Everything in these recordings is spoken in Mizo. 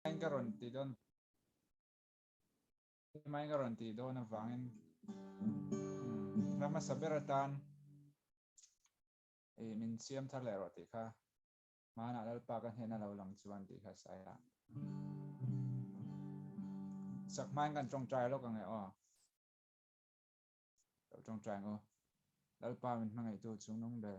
Hetiang ka rawn ti dawn hetiang ka rawn ti dawn avangin ram hmasa ber atan i min siam thar leh rawh tih kha hmanah lalpa ka hnehna lo lang chuan tih kha sai a sak hmain kan tawngtai lawk ange aw lo tawngtai ang u lalpa min hmangaihtu chungnung ber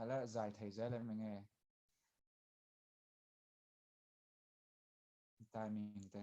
ala zai thei zai lem enge timing te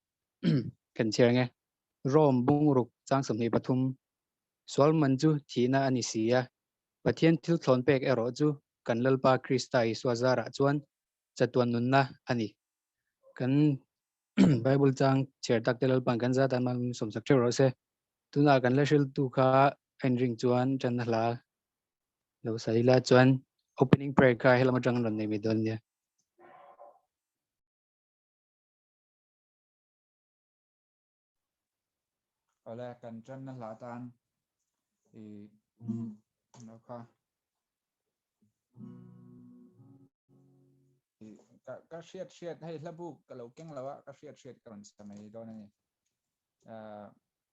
kan chhiar nge Rome bungruk chang sawmhnih pathum Sualman chu thihna a ni si a, Pathian thil thlawn pek erawh chu kan Lalpa Krista Isua zarah chuan chatuan nunna a ni. Kan Bible chang chhiar takte Lalpa'n kan za tan hmangaihawm sawmsak ṭheuh rawh se, tunah kan la hriltu kha a inring chuan ṭanna hla lo sa ila chuan Opening Prayer kha hellam aṭang an rawn nei mai dawn nia. Awle kan tanna hlah tan i no kha ka hriat hriat hei hlabuk ka lo keng lo a ka hriat hriat ka rawn sa mai dawn a ni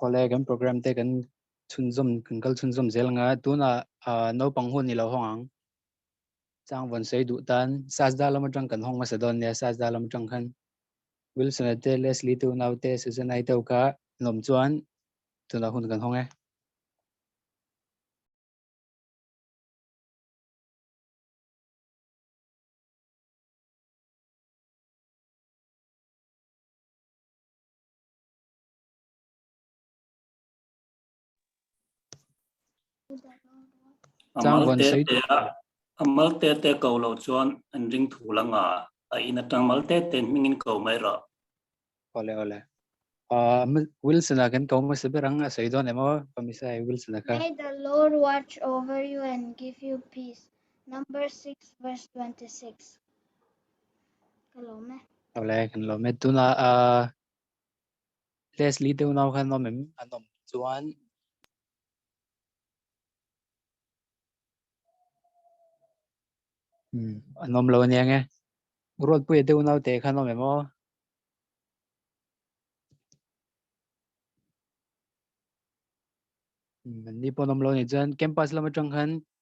Kawle kan program te kan chhunzawm kan kal chhunzawm zel anga tuna naupang hun ni lo hawng ang chang von sei duh tan sajda lam atang kan hawng masa don nia sajda lam atang khan Wilson te Leslie tu nau te Susan ai teu kha nom chuan tuna hun kan hawng e Amal te te a amal te te ko lo chuan an ring thu la nga a in atang mal te te hming in ko mai ra ole ole a wilson a kan ko ma se berang a sei don emaw pamisa e wilson a ka may the lord watch over you and give you peace number 6 verse 26 Hello me. Hello, hello me. Tuna a Leslie deu nau khan nom em an nom chuan um an nom lo nia nge road pui deu nau te khan nom em o um ni pawh nom lo ni chuan campus lama tang khan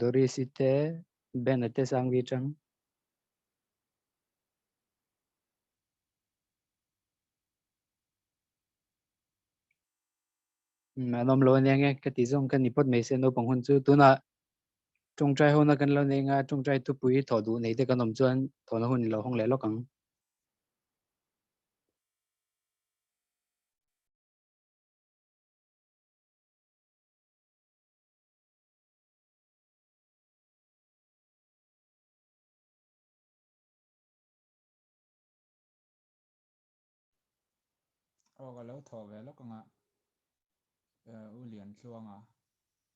Doris ite, Ben ate sang vi chang. Anom lo ania nge ka ti zong kan ni pot mai se no pang hun chu tuna tung trai hona kan lo nei nga tung trai tu pui tho du nei te kan om chuan tho na hun lo hong le lok ang Awk a lo thaw ve lawk ang a, U Liantluanga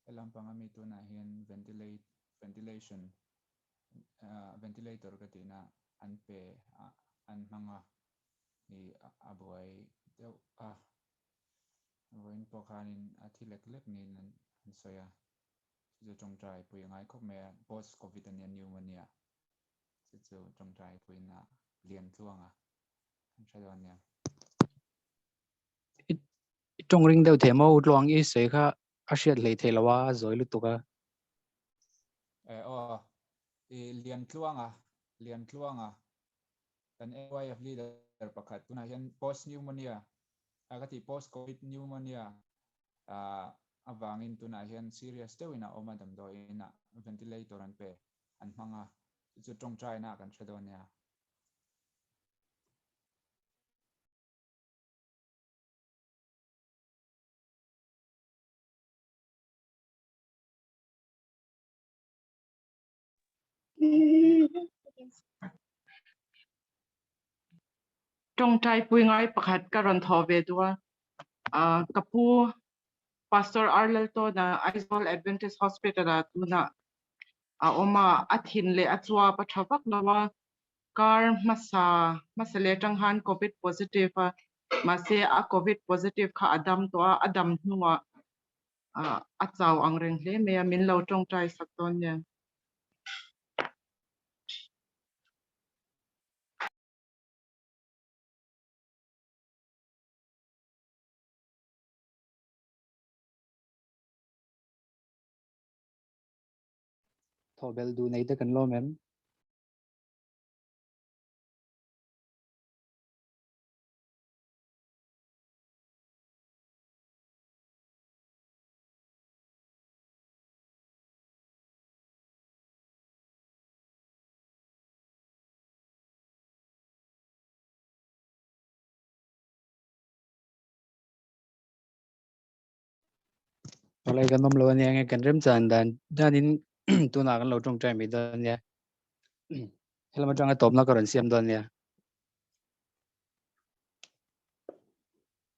helam panga mi tunah hian ventilate, ventilation, ventilator ka tihna an pe an hmang a nih a buai deuh a. Vawiin pawh khanin a thi lek lek niin an sawi a, chu chu tawngtai pui a ngai khawp mai a, post covid ania pneumonia chu chu tawngtai puiin a lian tluang a, kan hre dawn nia. I tawng ring deuh thei maw u Tluang i sawi kha a hriat hlei thei lo a, a zawi lutuk a. E aw, i lian tluang a, lian tluang a, kan NYF leader pakhat tunah hian post pneumonia a ka tih post covid pneumonia avangin tunah hian serious deuhin a awm a damdawiin a ventilator an pe an hmang a chu chu tawngtaina kan hre dawn nia. Tawngtai pui ngai pakhat ka rawn thawh ve duh a, ka pu Pastor Ar Laltawn a Aizawl Adventist Hospital ah tunah a awm a, a thin leh a chuap a tha vak lo a, kar hmasa hmasa leh atang han Covid positive a, mahse a Covid positive kha a dam tawh a, a dam hnungah ah a chau ang reng hle mai a, min lo tawngtai sak dawn nen. Thawhbel duh neite kan lawm em? Alai kan nom lo ania nge kan rem chan dan danin tuna kan lo tawng trai mi dawn nia helama tanga tawpna ka rawn siam dawn nia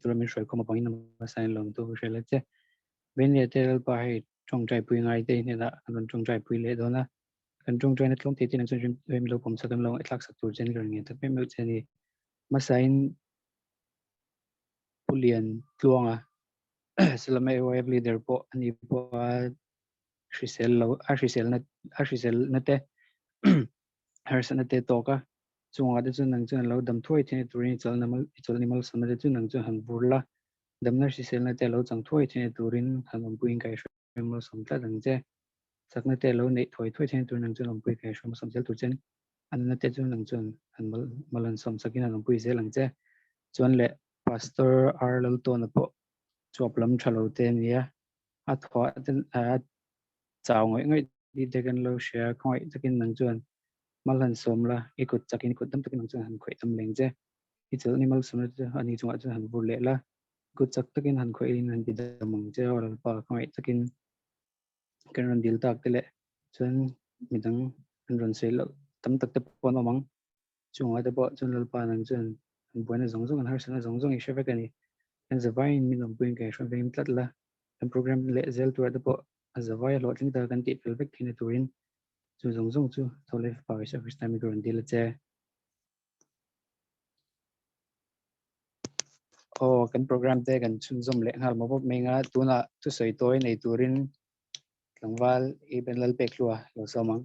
Tura min hruai khawm avangin na hmasa in lawm tu hriat la che. Veng leh te lalpa hei tawngtaipui ngaite hnena kan rawn tawngtaipui leh dawn a, kan tawngtaina tlawm thei tein chuan rim lo pawm sak em lo, i tlak sak tur chuan i rawn ngen ta meuh meuh che a ni. Hmasa in Pu Lian Tluanga Salama AYF leader pawh ani pawh a hrisel lo, a hriselna, a hriselna te harsatna te tawk a, chungah te chuan nang chuan a lo dam thuai thin e turin i chawlhna mal i chawlhni malsana te chu nang chuan han bur la, damna hriselna te a lo chang thuai thin e turin han awmpuiin ka i hre malsam tlat ang che. Sakna te a lo neih thuai thuai thin e turin nang chuan awmpui ka i hre malsam zel tur chen a nana te chu nang chuan han mal mal han sawm sakin han awmpui zel ang che. Chuan leh Pastor Ar Laltawna pawh chhuap lam tha lo te a nia, a thuah ten a chau ngawih ngawih tih dek an lo hria, khawngawih takin nang chuan mal han sawm la, i kut chakin i kut dam takin nang chuan han khawih tam leng che, i chawlh ni mal sawmna te ani chungah chuan han vur leh la, i kut chak takin han khawih in han ti dam ang che, aw lalpa khawngawih takin kan rawn dil tak te leh chuan midang an rawn sawi loh tam tak te pawh an awm ang. Chungah te pawh chuan Lalpa nang chuan kan buaina zawng zawng, kan harsatna zawng zawng i hre vek a ni. Kan zavaiin min awm pawhin kan i hruaivengin tlat la, kan programme leh zel turah te pawh a zavaia hlawhtling taka kan tihfel vek thei na turin chu zawng zawng chu Tholei Fapa Isua Krista min rawn dil a che. Aw, kan programme te kan chhunzawm leh nghal mawp mawp mai anga tunah thusawi tawi nei turin tlangval i banlal pek hlua lo sawm ang.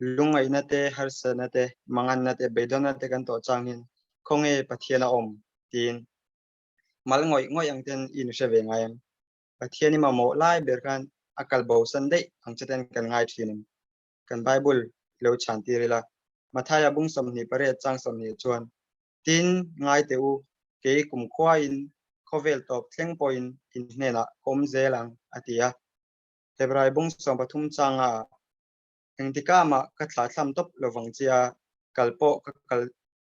Lungaihna te, harsatna te, manganna te, beidawhna te kan tawh changin khawnge Pathian a awm? tiin mal ngawih ngawih ang ten i nu hre ve ngai ang. Pathian i mamawh lai ber khan a kal bo san daih ang che ten kan ngai thin ang. Kan Bible i lo chhantir ila, Mathaia bung sawmhnih pariat chang sawmhnih-ah chuan, Tin, ngai teh u, kei kumkhuain khawvel tawp thleng pawhin in hnenah ka awm zel ang, a ti a. Hebrai bung sawmpathum changa engtikah mah ka thla thlam tawp lovang che a, kal pawh ka kal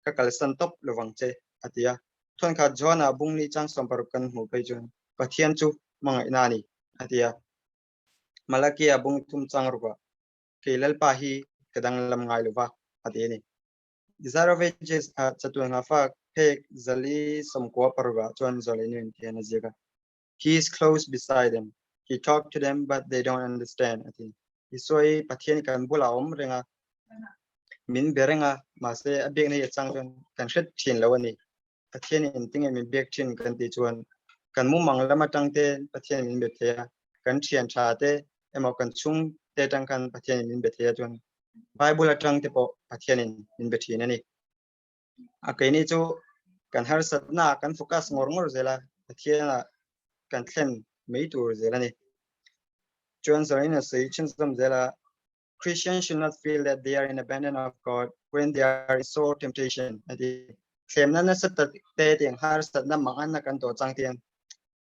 ka kalsan tawp lovang che, a ti a. Thawnkhat Joana bung ni chang sawm paruk kan hmu phei chuan Pathian chu hmangaihna a ni, a ti a. Malakia bung thum chang ruah, Kei Lalpa hi ka danglam ngai lo va, a ti a ni. Zarovages a chatuanga fak phek zali sawmkua paruk ah chuan Zolenu in ti hian a ziak a. he is close beside them he talk to them but they don't understand ati isoi pathian kan bula om renga min berenga ma se a bek nei chang chuan kan hret thin lo ani pathian in tinge min bek thin kan ti chuan kan mu mang lama tangte pathian min be thea kan thian tha te emaw kan chung te tang kan pathian min be thea chuan bible atang te po pathian in min be thin ani a kei ni chu kan harsatna kan focus ngawr ngawr zela pathiana kan thlen mei tur zel ani chuan zarina sei chin zam zela Christians should not feel that they are in abandon of God when they are in sore temptation ati thlemna na sat te te har sat na mangan na kan to chang tian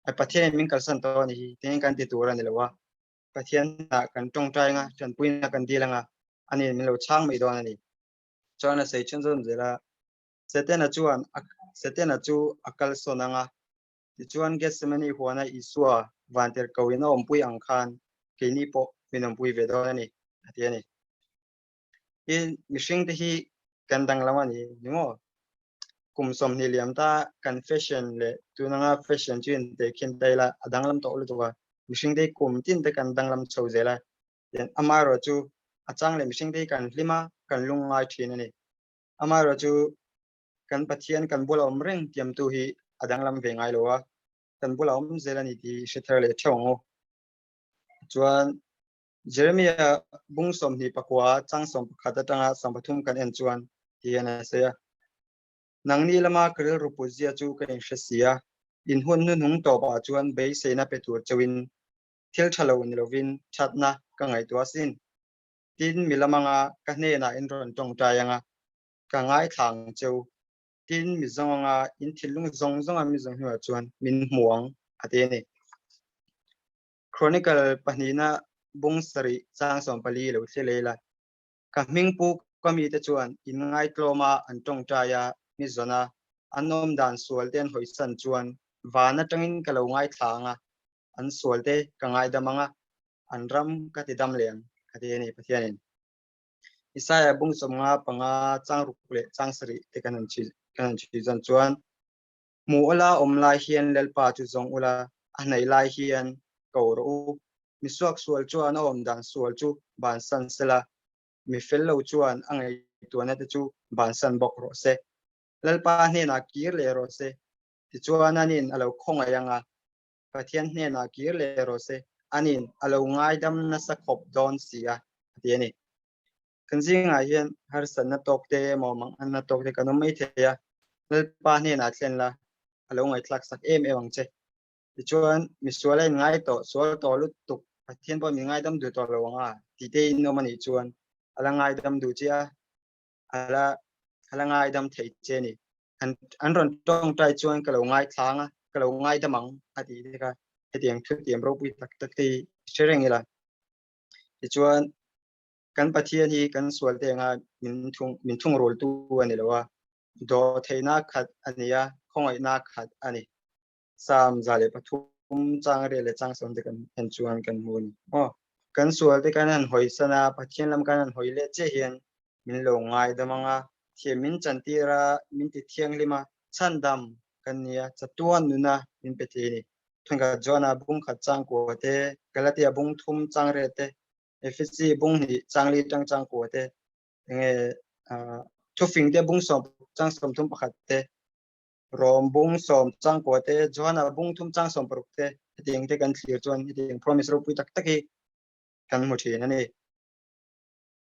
a pathian min kalsan to ni hi ten kan ti tur ani lowa pathian na kan tong trai nga chan puina kan dilanga ani min lo chang mai don ani Chuan a sei chhun zawn zel a, Setana chuan a Setana chu a kalsawn ang a. Tichuan Getsemane huana Isua vantir koin a awmpui ang khan keini pawh min awmpui ve dawn a ni, a ti a ni. Hi mihringte hi kan danglam a ni ni maw? Kum sawmhnih liam ta kan fashion leh tun anga fashion chu inpe khin ta ila a danglam tawh lutuk a, mihringte hi kum tin te kan danglam chho zel a, Tin, amaherawh chu a chang leh mihringte hi kan hlim a, kan lung ngai thin a ni. Amaherawh chu kan Pathian kan bulah a awm reng tiamtu hi a danglam ve ngai lo a, kan bulah a awm zel a ni tih hi hre thar leh theuh ang u. Chuan Jeremiah bung sawmhnih pakua chang sawm pakhat atanga sawm pathum kan en chuan tih hian a sawi a, Nang ni lama ka rilru putzia chu ka inhresia, inhun hnuhnung tawpah chuan beiseina pe tur cheuhin thil tha lo ni lovin thatna ka ngaihtuah sin. Tin mi lamanga ka hnenah in rawn tawngtai anga ka ngaithlang che u. Tin mi zawng anga in thinlung zawng zawnga mi zawng hnunah chuan min hmu ang a ti a ni. Chronicle pahnihna bung sarih Changsawm pali lo thli lei la. Ka hming pu ka mite chuan in ngaitlawma an tawngtai a, mi zawna an awm dan sual ten hawisan chuan van atangin ka lo ngaithlang a, an sual te ka ngaidam anga an ram ka ti dam leh ang ka ti a ni Pathianin Isaiah bung chawm nga panga changruk leh changsarih te kan han chhi kan han chhi zan chuan mu ola om lai hian lalpa chu zawng ula a hnaih lai hian ko rawh u mi suak sual chuan a awm dan sual chu ban san sela mi fel lo chuan a ngei tuana te chu ban san bawk rawh se lalpa hnena kir leh rawh se ti chuan anin a lo khawngaih anga Pathian hnenah kir leh rawh se, a nin a lo ngaidam nasa khawp dawn si a, a ti a ni. Kan zingah hian harsatna tawk te emaw manghanna tawk te kan awm mai thei a, Lalpa hnenah thlen la a lo ngaihtlak sak em em ang che. Tichuan, Misuala in ngai tawh, sual tawh lutuk, Pathian pawh min ngaidam duh tawh lo ang a, tih te in awm a nih chuan a la ngaidam duh chiah a. ala ala ngai dam thei che ni an an ron tong tai chuan ka lo ngai thlang a ka lo ngai dam ang a ti te ka hetiang thu tiam ro pui tak tak te che reng ila ti chuan kan pathian hi kan sual te nga min thung min thung rol tu ani lo a do theina khat ania khongai na khat ani Psalm za leh pathum chang reh leh chang sawmte kan en chuan kan hmu a ni aw. Kan sualte kan han hawi san a, Pathian lam kan han hawi leh chiah hian min lo ngaidam ang a, thiam min chantîr a, min ti thianghlim a, chhandam kan ni a, chatuan nuna min pe thei a ni. Thenkhat Joana bung khat chang kua te, Galatia bung thum chang reh te, Efesi bung hnih chang li chang chang kua te, enge, Thufingte bung sawmpakhat chang sawmthum pakhat te, Rom bung sawm changkua te, Johana bung thum chang sawm paruk te hetiang te kan thlir chuan hetiang promise ropui tak tak hi kan hmu thin a ni.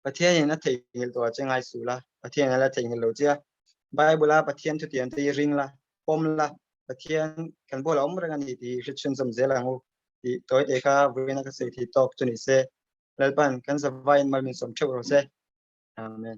Pathianin a theihnghilh tawh a che ngai sul a, Pathian ala theihnghilh lo che a. Bible-a Pathian thutiang te hi ring la, pawm la, Pathian kan bulah a awm reng a ni tih hi hriathrenzawm zel ang u tih tawi te kha vawiin a ka sawi thei tawk chu ni se. Lalpa'n kan zavaiin malmin sawm theuh rawh se. Amen.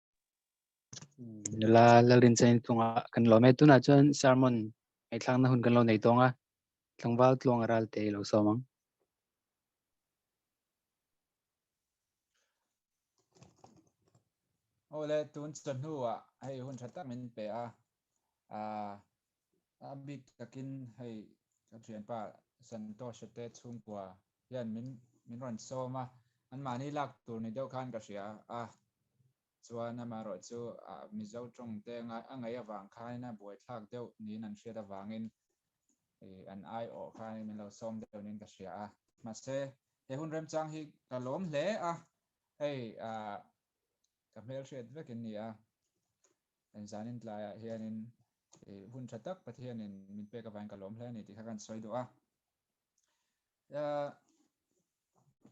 nula lalrin chen thunga kan lo met tunah chuan sermon hei thlakna hun kan lo nei tawnga tlangval tluanga ral te lo sawm ang ole tun chawhnu a hei hun tha tak min pe a a A bik takin hei ka thianpa Santosha te chhungkua hian min min rawn sawm a, anmahni lak tur ni deuh khan ka hria a, chuan amaherawh chu Mizo tawng te ngai a ngaih avang khanin a buaithlak deuh niin an hriat avangin an ai awh khanin min lo sawm deuh niin ka hria a, mahse he hun remchang hi ka lawm hle a, hei Ka hmel hriat vekin ni a, kan zanin tlaiah hianin i hun tha tak Pathianin min pek avangin ka lawm hle a ni tih kha kan sawi duh a.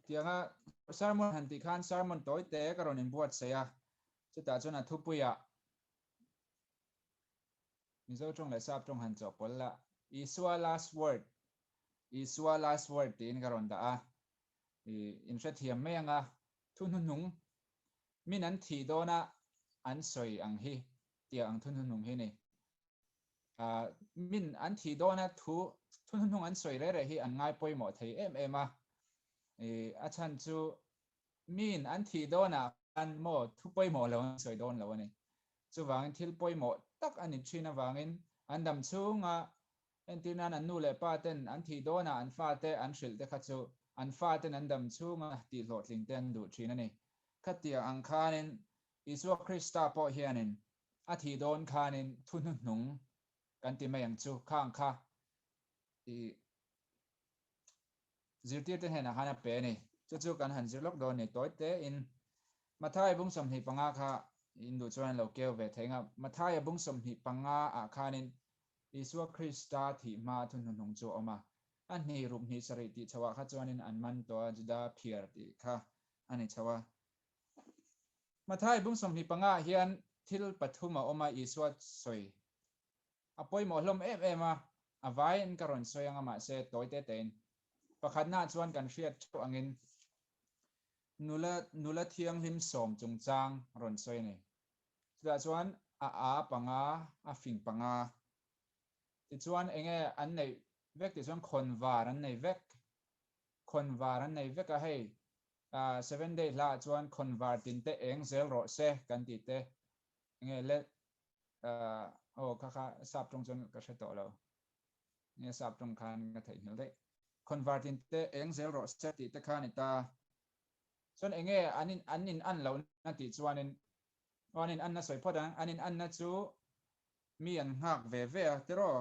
Tianga sermon han tih khan sermon tawi te ka rawn inbuatsaih a, chutah chuan a thupuia Mizo tawng leh Sap tawng han chawhpawlh la, Isua last word, Isua last word tiin ka rawn dah a, i inhrethiam mai anga Thunhunung min an thih dawna an sawi ang hi tia ang thunhunung hi ni. Min an thih dawna thu thunhunung an sawi reh reh hi an ngai pawimawh thei em em a. A chhan chu min an thih dawna khan maw thu pawimawh lo an sawi dawn lo a ni. Chuvangin thil pawimawh tak a ni thin avangin an dam chhunga Entir nan an nu leh pa ten an thih dawn ah an fa te an hrilh te kha chu an fa ten an dam chhung a tih hlawhtling te an duh thin a ni. Khatiang ang khan in Isua Krista pawh hian in a thih dawn khan in thu hnu hnung kan ti mai ang chu kha ang kha i zirtir te hnen ah khan a pe a ni. Chu chu kan han zir lawk dawn ni tawi te in Matthai bung sawmhnih panga kha in duh chuan an lo keu ve thei ang a. Matthai a bung sawmhnih panga ah khan in Isua Krista thih hma thu hnuhnung chu a awm a, a hnih ruk hnih sarih tih chhoh ah kha chuanin an man tawh a, Juda phiar tih kha a ni chho a. Matthai bung sawmhnih panga ah hian thil pathum a awm a, Isua sawi a pawimawh hlawm em em a, a vaiin ka rawn sawi anga mahse tawi te tein pakhatna ah chuan kan hriat theuh angin nula nula thianghlim sawm chungchang rawn sawi a ni. Chutah chuan a a panga a fing panga tichuan enge an neih vek tih chuan khawn var an nei vek, khawn var an nei vek a hei seven day hla ah chuan khawn var tin te eng zel rawh se kan tih te enge le aw kha kha sap tawng chuan ka hre tawh lo enge sap tawng khan ka theihnghilh daih khawn var tin te eng zel rawh se tih te kha a ni ta. Chuan enge an in an in an loh na tih chuanin aw an in an na sawi phawt a, an in an na chu mi an nghak ve ve a tiraw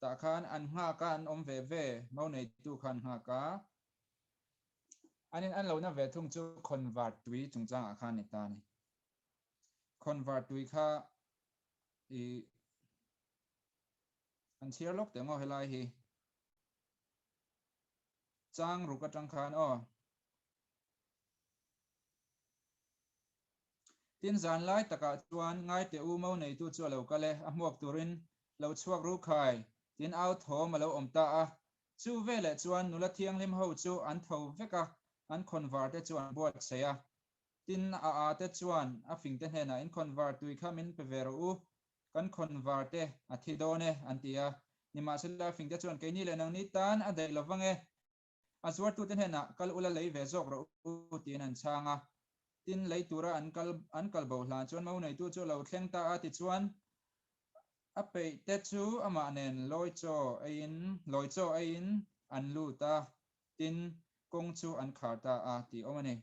tah khan an nghak a an awm ve ve mo neitu khan nghak a an in an loh na ve thung chu khawn var tui chung chang ah khan ni ta ni khawn var tui kha i an chhiar lawk teh maw helai hi. Chang ruk atang khan aw. Tin zan lai takah chuan ngai teh u mo neitu chu a lo kal e, a hmuak turin lo chhuak ru khai tin au thawm a lo awm ta a. Chu veleh chuan nula thianghlim ho chu an tho vek a, an khawnvar te chu an buatsaih a. Tin a ate chuan a fingte hnenah in khawnvar tui kha min pe ve rawh u, Kan khawn var te a thi dawn e an ti a, nimahse Lalfing te chuan keini leh nangni tan a daih lo vang e, a zuartu te hnenah kal ula lei ve zawk rawh u tiin an chhang a, tin lei tura an kal an kal boh hlan chuan mo neitu chu a lo thleng ta a tichuan a peih te chu amah nen lawi chaw aiin lawi chaw aiin an lut a, tin kawng chu an khar ta a tih awm a ni.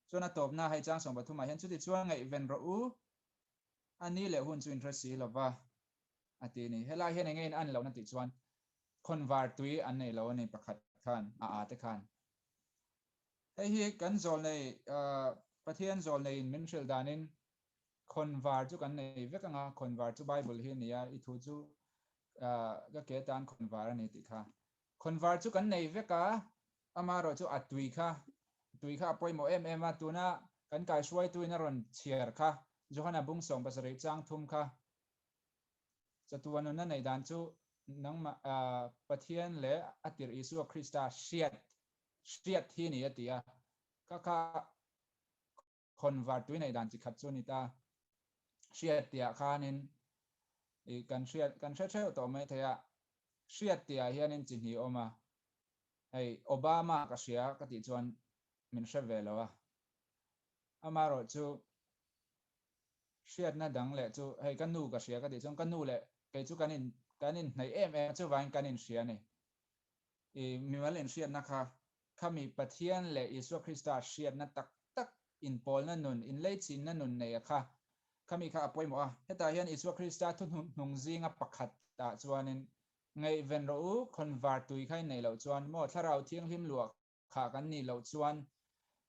Chuan a tawpna a haichang sawm pathumah hian chuti chuan ngaihven rawh u a ni leh hun chu in hre si lova a ti a ni. Helai hian enge in an lo na tih chuan khawn var tui an nei lo a ni pakhat khan a a te khan. Hei hi kan zawl nei Pathian zawl nei in min hrilh dan in khawn var chu kan nei vek ang a, khawn var chu Bible hi a ni a, i thu chu ka ke tan khawn var a ni tih kha. Khawn var chu kan nei vek a, Ama erawh chu a tui kha, tui kha a pawimawh em em a, tuna kan kaihruaituin a rawn chhiar kha, Johana bung sawng pasarih chang thum kha, Chatu a nunna neih dan chu nangmah Pathian leh a tirh Isua Krista hriat hriat hi a ni a ti a, kha kha Khawn var tuineih dan chi khat chu ni ta. Hriat tih ah khanin ih kan hriat kan hre theuh tawh mai theia hriat tih ah hianin chi hnih awm a, hei Obama ka hria ka tih chuan min hre ve lo a. Amaherawh chu hriatna dang leh chu hei ka nu ka hria ka tih chuan ka nu leh kei chu kan in kan inhnaih em em a chuvain kan inhria a ni. Ih mimal inhriatna kha Khami Pathian leh Isua Krista hriatna tak tak inpawlna nun, inleichhinna nun neia kha khami kha a pawimawh a. Hetah hian Isua Krista thuhnuh hnung zinga pakhat ah chuanin ngaihven rawh u, khawnvar tui kha inneih loh chuan maw Thlarau Thianghlim luah kha kan nih loh chuan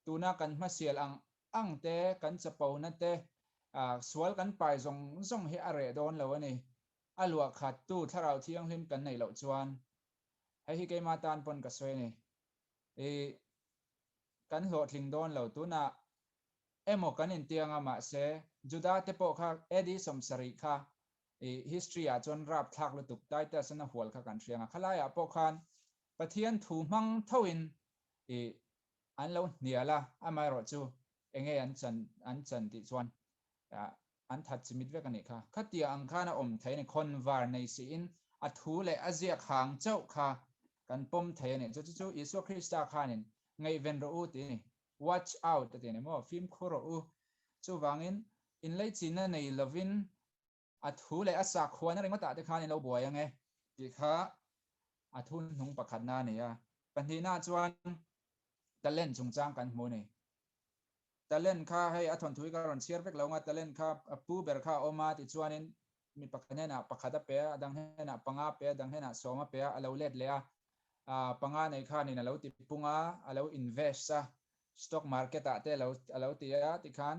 tuna kan hmasial ang ang te, kan chapona te, sual kan pai zawng zawng hi a reh dawn lo a ni. A luahkhattu Thlarau Thianghlim kan neih loh chuan Hei hi keimah tan pawn ka sawi a ni. I kan hlawhtling dawn lo. Tunah emaw kan intiang a, mahse Judah te pawh kha AD sawm sarih kha i history ah chuan rapthlak lutuk Titus an a hual kha kan hria nga. Khalaiah pawh khan Pathian thu hmang thoin i an lo hnial a, amaherawhchu enge an chan an chan tih chuan An that chimit vek a nih kha. Khatia ang khan a awm thei a ni. Khawn var nei siin a thu leh a ziak hang chauh kha kan pawm thei a ni. Chu chu chu Isua Krista khanin ngaihven rawh u tih a ni. Watch out a ti a ni maw? Fimkhur rawh u. Chuvangin inleichina nei lovin a thu leh a sakhuana ringawtah te khan in lo buai ang e tih kha a thunhnung pakhatna a ni a. Pahnihna chuan talent chungchang kan hmu a ni. Talent kha hei a thawnthui ka rawn chhiar vek lo nga, talent kha pu ber kha a awm a ti chuanin mi pakhat hnenah pakhat a pe a, a dang hnenah panga a pe a, a dang hnenah sawm a pe a, a lo let leh a. Aah panga nei khanin a lo ti pung a, a lo invest a, stock market ah te a lo a lo ti a tikhan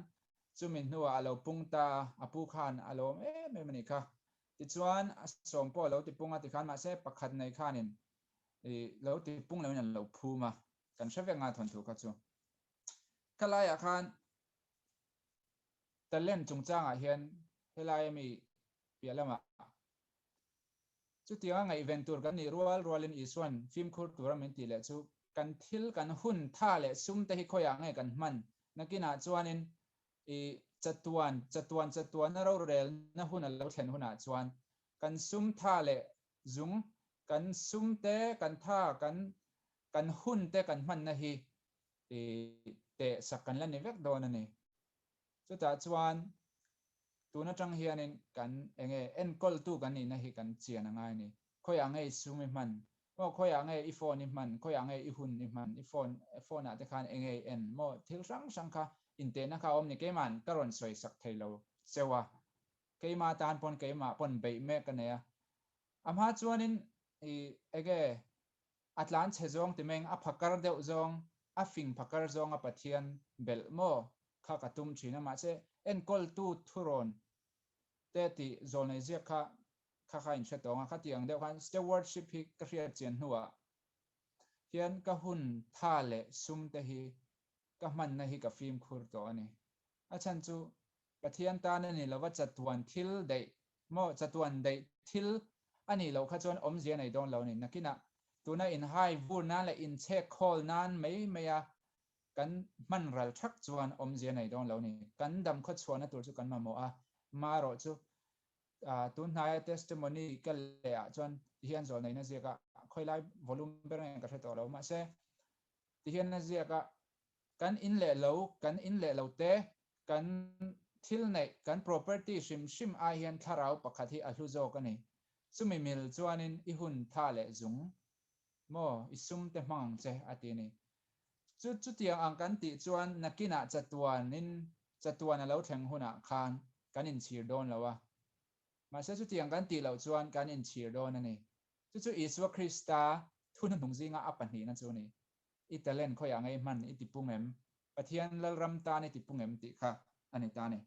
chumi hnuah a lo pung ta a, a pu khan a lo awm em em a nih kha. Tichuan a sawm pawh a lo ti pung a tikhan mahse pakhat nei khanin ih lo ti pung loin a lo phum a. Kan hre vek nga thawn thu kha chu. Ka laiah khan talent chungchangah hian helai ami piah lamah chutianga ngaihven tur kan nih rual rualin Isuan fimkhur tura min tih leh chu kan thil kan hun tha leh sum te hi khawiah nge kan hman nakinah chuanin i chatuan chatuan chatuana rorelna hun a lo thlen hunah chuan kan sum tha leh Zum, kan sum te, kan tha, kan kan hun te kan hmanna hi ih teh sak kan la ni vek dawn a ni. Chutah chuan tun atang hianin kan eng nge enkawltu kan nihna hi kan chian a ngai a ni. Khawiah nge i sum i hman? Maw khawiah nge i phone i hman? Khawiah nge i hun i hman? I phone phone ah te khan eng nge i en? Maw thil hrang hrang kha intehna kha a awm ni keima'n ka rawn sawi sak thei lo. Cheu a, Keimah tan pawn keimah pawn beih mek ka nei a. A hma chuanin i ege a tlan chhe zawng ti meng a pha kar deuh zawng, a fing pha kar zawng a Pathian belh maw kha ka tum thin a. Mahse enkawltu thurawn te tih zawl nei ziak kha kha kha inhre tawng a. Khati ang deuh khan stewardship hi ka hriat chian hnuah hian ka hun tha leh sum te hi ka hmanna hi ka fimkhur tawh a ni. A chhan chu Pathian tan a ni lova chatuan thil daih maw, chatuan daih thil a nih loh kha chuan awmzia nei dawn lo a ni. Nakinah tuna inhai vur nan leh inchhek khawl nan mai maia kan hman ral thak chuan awmzia nei dawn lo a ni. Kan dam khaw chhuahna tur chu kan mamawh a, marawh chu tun hnaia testimony ka lehah chuan tihian zawl neina ziaka khawilai volume ber nge ka hre tawh lo. Mahse, tihian a ziaka Kan in leh lo, kan in leh lo te, kan thil neih, kan property hrim hrim ai hian thlarau pakhat hi a hlu zawk a ni. Chumi mil chuanin i hun tha leh zung maw, i sum te hmang ang che a ti a ni. Chu chutiang ang kan tih chuan nakinah chatuanin, chatuan a lo thleng hunah khan kan in chhir dawn lo a. Mahse chutiang kan tih loh chuan kan in chhir dawn a ni. Chu chu Isua Krista thunhnuhnung zinga a pahnihna chu a ni. I talent khawiah ngei hman i ti pung em? Pathian Lalram tan i ti pung em? tih kha a ni ta a ni.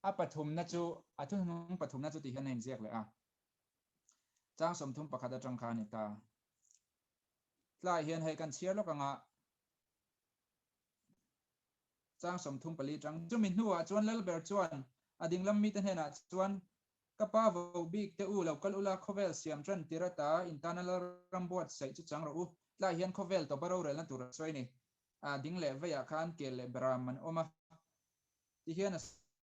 A pathumna chu, a thuhnung pathumna chu tih hian a inziak leh a, chang sawmthum pakhat atang kha a ni ta a. Tlaiah hian hei kan chhiar lawk anga chang sawmthum pali chang. Chumi hnuah chuan Lal ber chuan a dinglam mite hnenah chuan Ka pa vo bik teh u, lo kal ula khawvel siam tan tir a ta, in tana lal ram buat saih chu chang rawh u, tlai hian khawvel tawpa rorelna tur a sawi ni, a ding leh veiah khan kel leh ber a man awm a tih hian a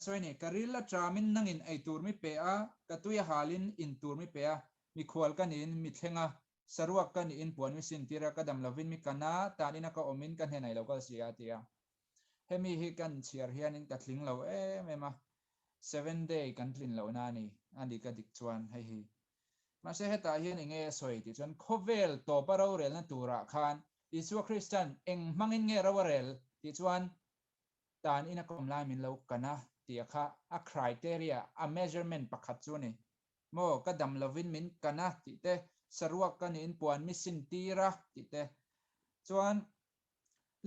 sawi ni, ka ril a tram in nang in ei tur mi pe a, ka tui a hal in in tur mi pe a, mi khual ka ni in mi thleng a, saruak ka ni in puan mi sin tir a, ka dam lo vin mi kan a, tan in a ka awm in ka hnen ailo kal si a ti a. Hemi hi kan chhiar hianin ka tling lo em em a, seven day kan tlin loh na a ni, a ni ka dik chuan hei hi. Mahse hetah hian eng nge a sawi tih chuan khawvel tawpa rorelna turah khan Isua Krista'n eng hmangin nge ro a rel tih chuan tan in a kawm lai min lo kan a tia kha a criteria, a measurement pakhat chu a ni. Maw ka dam lovin min kan a tih te, saruak ka niin puan mi sin tir a tih te. Chuan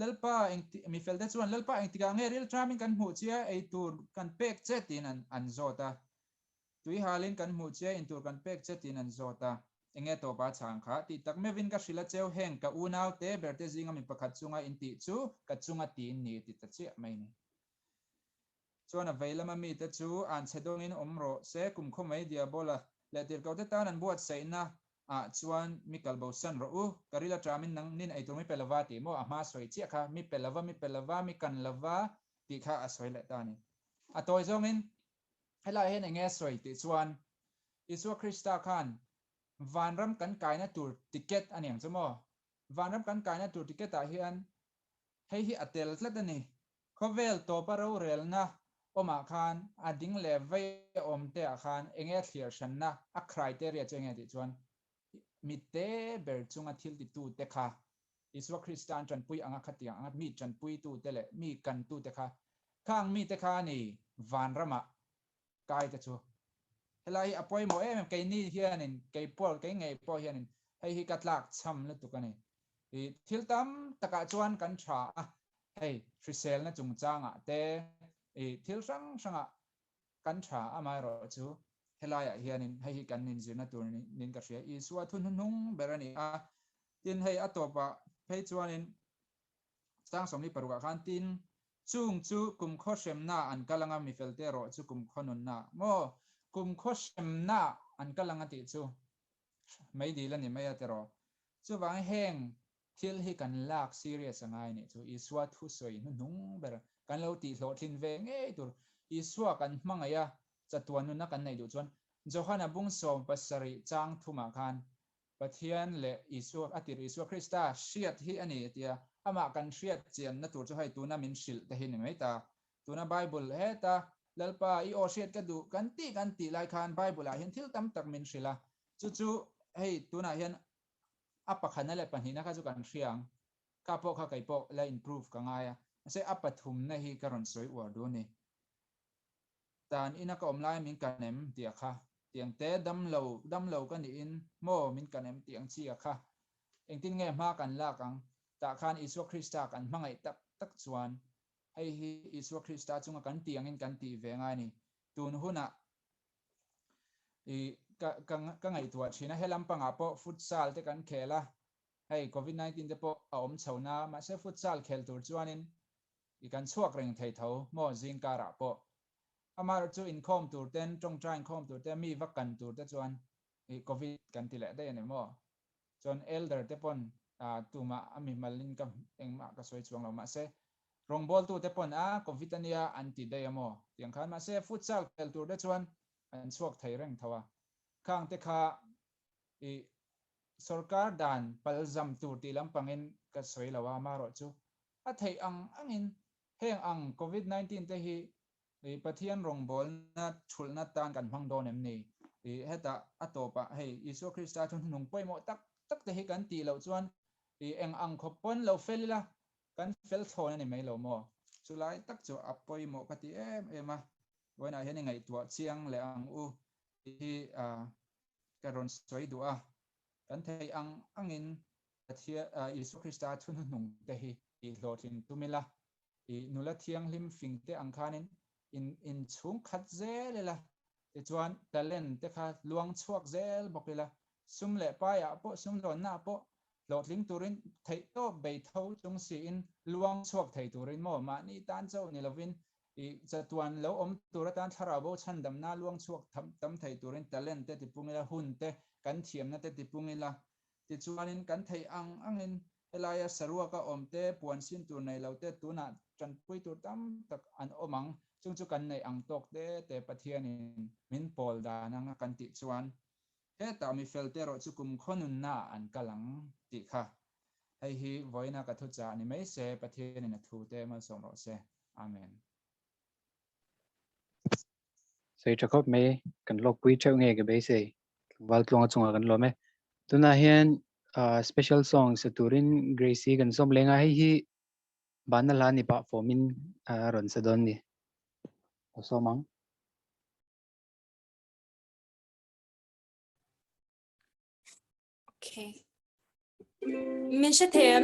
Lalpa eng ti, mi felte chuan Lalpa eng tikah nge rilṭam in kan hmuh chia ei tur kan pek che tiin an an zawt a, tui hal in kan hmuh chia in tur kan pek che tiin an zawt a, eng nge tawpa chhang kha? Tih tak meuh in ka hrilh a cheu heng, ka unau te berte zinga mi pakhat chunga in tih chu ka chunga tiin ni ti ta chiah mai ni. Chuan a vei lama mite chu an chhe dawngin awm rawh se, kum khaw mai Diabola leh tirhkohte tan an buatsaihna ah chuan mi kalbosan rawh u, ka ril a ṭam in nang nin eitur mi pe lova tih maw a hma sawi chiah kha, mi pe lova, mi pe lova, mi kan lova tih kha a sawi leh ta ni. A tawi zawngin he lai hian eng nge sawi tih chuan Isua Krista khan vanram kan kaina tur ticket a niang chu maw? Vanram kan kaina tur ticket ah hian Hei hi a tel tlat a ni. Khawvel tawpa rorelna awmah khan a ding leh vaih a awm te ah khan enge a thlir hranna a criteria chu enge tih chuan mite ber chunga thiltitu te kha Isua Krista an tanpui anga khatiang anga mi tanpuitu te leh mi kantu te kha khang mi te kha a ni vanramah kai te chu helai hi a pawimawh em em kei ni hianin kei pawl kei ngei pawh hianin hei hi ka tlak chham lutuk a ni i thil tam takah chuan kan tha a hei hriselna chungchangah te i thil hrang hranga kan tha amaherawh chu helaiah hianin hei hi kan inzirna tur niin ka hria Isua thunhunhung ber a ni a tin hei a tawpah phei chuanin Chang sawmli paruk ah khan tin chung chu kumkhua hremna an kal anga mi fel te erawh chu kumkhua nunna maw kumkhua hremna an kal anga tih chu mai dil a ni mai a tiraw chuvang heng thil hi kan lak serious a ngai nih chu Isua thu sawi hnu hnung ber kan lo tih hlawh thlin ve ngei tur Isua kan hmangaih a chatuan nuna kan neih duh chuan Johana bung sawm pasarih chang thum ah khan Pathian leh Isua, a tirh Isua Krista hriat hi a ni a tia. Amah kan hriat chianna tur chu hei tuna min hrilh te hi ni mai ta. Tuna Bible heta, Lalpa, i aw hriat ka duh, kan tih kan tih lai khan Bible-ah hian thil tam tak min hrilh a, chu chu hei tunah hian a pakhana leh pahnihna kha chu kan hria ang. Ka pawh kha kei pawh la improve ka ngai a, mahse a pathumna hi ka rawn sawi uar dawn a ni. dan ina ka awm lai min kan em ti a kha ti ang te dam lo dam lo ka nih in maw min kan em ti ang chi a kha engtin nge hma kan lak ang tah khan Isua Krista kan hmangaih tak tak chuan hei hi Isua Krista chunga kan ti angin kan tih ve ngai ni tun hunah i ka ka ka ngaihtuah thin a helam pangah pawh futsal te kan khel a hei covid nineteen te pawh a awm chho na mahse futsal khel tur chuanin I kan chhuak reng thei tho maw zing karah pawh. Amar chu inkhawm tur ten tawngtai inkhawm tur te mi va kan tur te chuan i covid kan ti leh daih a ni maw. Chuan elder te pawn tumah a mi mal in ka engmah ka sawi chuang lo mah se rawngbawl tu te pawn a covid a nia an ti daih a maw ti ang khan mah se futsal khel tur te chuan an chhuak thei reng tho a khang te kha i sorkar dan palzam tur tih lampang in ka sawi lo a amarawh chu A theih ang angin heng ang Covid nineteen te hi ih Pathian rawngbawlna chhulhna tan kan hmang dawn em ni? Ih hetah a tawpah hei Isua Krista thunhnung pawimawh tak tak te hi kan tih loh chuan ih eng ang khawp pawn lo fel ila kan fel thlawn a ni mai lo maw? Chu lai tak chu a pawimawh ka ti em em a, vawiinah hian i ngaihtuah chiang leh ang u tih hi ka rawn sawi duh a, kan theih ang angin Pathian, Isua Krista thunu hnung te hi i hlawhtling tum ila, i nula thianghlim fing te ang khanin in in chhungkhat zel ila, tichuan talent te kha luang chhuak zel bawk ila, sum leh pai ah pawh, sumlawnna ah pawh hlawhtling turin theihtawp bei tho chung siin luang chhuak thei turin maw, mahni tan chauh ni lovin i chatuan lo awm tur atan thlarau bo chhandamna luang chhuak tam thei turin talent te tipung ila, hun te kan thiamna te tipung ila, Tichuanin kan theih ang angin helaia saruaka awmte, puan sin tur nei lote tunah tanpui tur tam tak an awm ang, chung chu kan neih ang tawk te te Pathianin min pawl dan ang a kan tih chuan hetah mifelte erawh chu kum khaw nunnaah an kal ang tih kha hei hi vawiina ka thuchah a ni mai se, Pathianin a thute malsawm rawh se. Amen. sawi tha khawp mai kan lawkpui theuh nge ka beisei tlangval tlawnga chunga kan lawm e tuna hian special song sa turin gracie kan som lenga hei hi banna hla ni pah fawmin rawn sa dawn ni a somang okay min hre them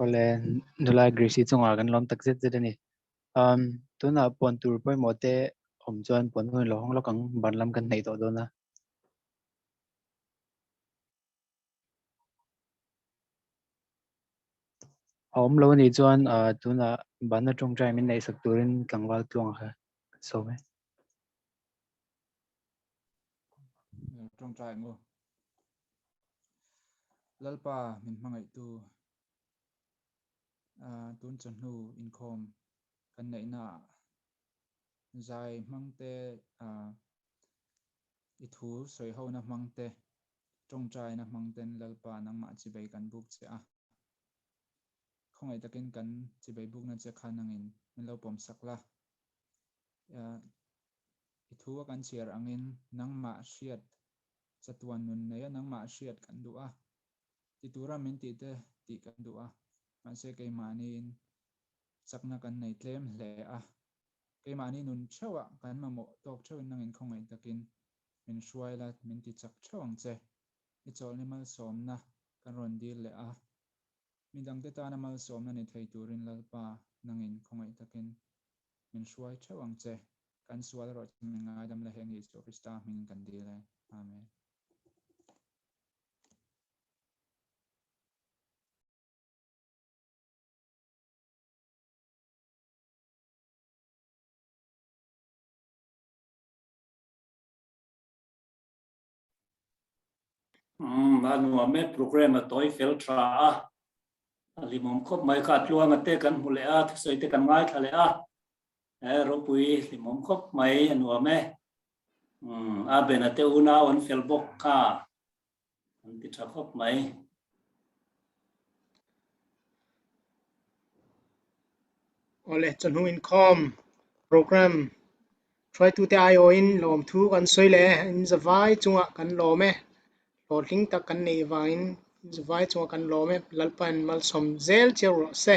Awle nula greasy chunga kan lawm tak zet zet a ni um tuna pon tur pawimawh te awm chuan pon hun lo hawng lawk ang ban lam kan hnaih tawh dawn a a awm lo a nih chuan tuna ban atang tangin naihsak turin tlangval tluang a ka sawi mai. tawngtai maw lalpa min hmangaihtu tun chawhnu inkhawm kan neihna ah zai hmangte i thu sawi hona hmangte tawngtaina hmangten lalpa nangmah chibei kan buk che a, khawngaih takin kan chibei bukna che khan angin min lo pawmsak la. I thu a kan chhiar angin nangmah hriat chatuan nun nei a, nangmah hriat kan duh a, ti tura min tih te tih kan duh a, mahse keimahniin chakna kan nei tlem hle a, keimahni nun theuha kan mamawh tawk theuhin nangin khawngaih takin min hruai la, min ti chak theuh ang che, i chawlhni malsawmna kan rawn dil leh a, midangte tana malsawmna ni thei turin Lalpa nangin khawngaih takin min hruai theuh ang che, kan sual erawh chu min ngaidam la heng hi Isua Krista hmingin kan dil e. Amen. Umm a nuam e program a tawi fel tha a, a hlimawm khawp mai kha, tluanga te kan hmu leh a, thusawi te kan ngai thla leh a, he ropui hlimawm khawp mai a nuam e, umm a bena te una awn fel bawk kha, kan ti tha khawp mai. awle chawhnu inkhawm program hruaitute aio in lawm thu kan sawi leh in za vai chunga kan lawm e hlawhtling tak kan nei avangin in za vai chunga kan lawm e lalpa in malsawm zel chiah ruah se.